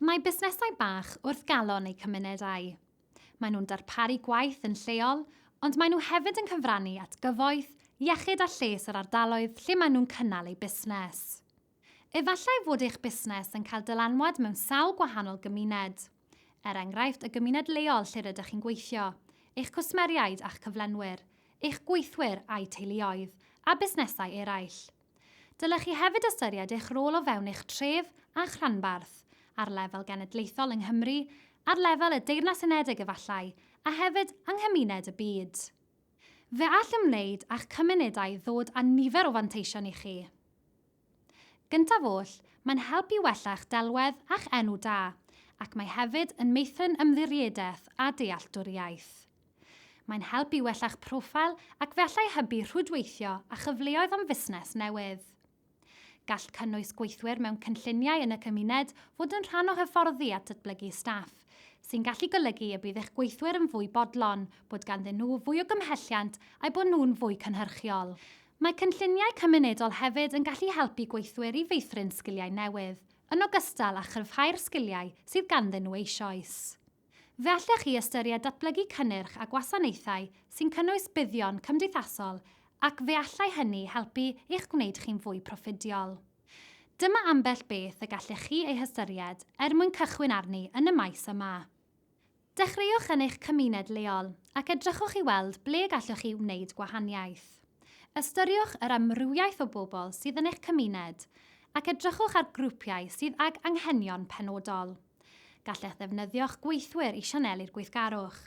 Mae busnesau bach wrth galon eu cymunedau. Maen nhw'n darparu gwaith yn lleol, ond maen nhw hefyd yn cyfrannu at gyfoeth, iechyd a lles yr ardaloedd lle maen nhw'n cynnal eu busnes. Efallai fod eich busnes yn cael dylanwad mewn sawl gwahanol gymuned, er enghraifft y gymuned leol lle rydych chi'n gweithio, eich cwsmeriaid a'ch cyflenwyr, eich gweithwyr a'u teuluoedd, a busnesau eraill. Dylech chi hefyd ystyried eich rôl o fewn eich tref a'ch rhanbarth, ar lefel genedlaethol yng Nghymru, ar lefel y Deyrnas Unedig efallai, a hefyd yng nghymuned y byd. Fe all ymwneud â'ch cymunedau ddod â nifer o fanteision i chi. Gyntaf oll, mae'n help i wella'ch delwedd a'ch enw da, ac mae hefyd yn meithrin ymddiriedaeth a dealltwriaeth. Mae'n help i wella'ch profil ac fe allai hybu rhwydweithio a chyfleoedd am fusnes newydd. Gall cynnwys gweithwyr mewn cynlluniau yn y cymuned fod yn rhan o hyfforddi a datblygu staff, sy'n gallu golygu y bydd eich gweithwyr yn fwy bodlon, bod ganddyn nhw fwy o gymhelliant a'u bod nhw'n fwy cynhyrchiol. Mae cynlluniau cymunedol hefyd yn gallu helpu gweithwyr i feithrin sgiliau newydd, yn ogystal â chryfhau'r sgiliau sydd ganddyn nhw eisoes. Fe allech chi ystyried datblygu cynnyrch a gwasanaethau sy'n cynnwys buddion cymdeithasol ac fe allai hynny helpu i'ch gwneud chi'n fwy proffidiol. Dyma ambell beth y gallech chi eu hystyried er mwyn cychwyn arni yn y maes yma. Dechreuwch yn eich cymuned leol ac edrychwch i weld ble gallwch chi wneud gwahaniaeth. Ystyriwch yr amrywiaeth o bobl sydd yn eich cymuned ac edrychwch ar grwpiau sydd ag anghenion penodol. Gallech ddefnyddio'ch gweithwyr i sianelu'r gweithgarwch.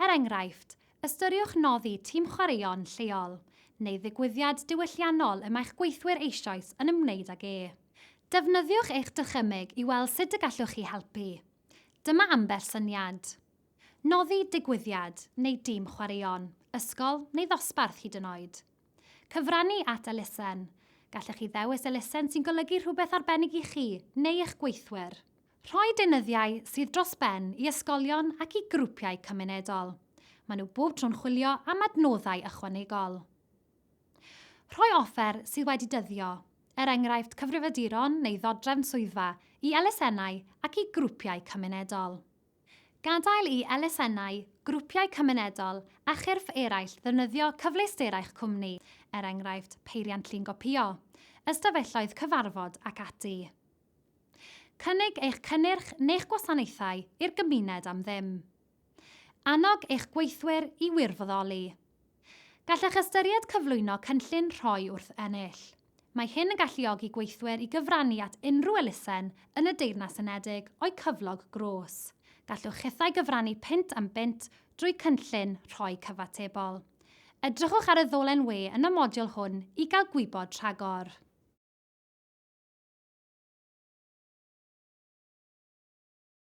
Er enghraifft, ystyriwch noddi tîm chwaraeon lleol neu ddigwyddiad diwylliannol y mae'ch gweithwyr eisoes yn ymwneud ag e. Defnyddiwch eich dychymyg i weld sut y gallwch chi helpu. Dyma ambell syniad. Noddi digwyddiad neu dîm chwaraeon, ysgol neu ddosbarth hyd yn oed. Cyfrannu at elusen. Gallech chi ddewis elusen sy'n golygu rhywbeth arbennig i chi neu eich gweithwyr. Rhoi deunyddiau sydd dros ben i ysgolion ac i grwpiau cymunedol. Maen nhw bob tro'n chwilio am adnoddau ychwanegol. Rhoi offer sydd wedi dyddio, er enghraifft cyfrifiaduron neu ddodrefn swyddfa, i elusennau ac i grwpiau cymunedol. Gadael i elusennau, grwpiau cymunedol a chyrff eraill ddefnyddio cyfleusterau'ch cwmni, er enghraifft, peiriant llun gopïo, ystafelloedd cyfarfod ac ati. Cynnig eich cynnyrch neu'ch gwasanaethau i'r gymuned am ddim. Annog eich gweithwyr i wirfoddoli. Gallech ystyried cyflwyno cynllun rhoi wrth ennill. Mae hyn yn galluogi gweithwyr i gyfrannu at unrhyw elusen yn y Deyrnas Unedig o'u cyflog grôs. Gallwch chithau gyfrannu punt am bunt drwy cynllun rhoi cyfatebol. Edrychwch ar y ddolen we yn y modiwl hwn i gael gwybod rhagor.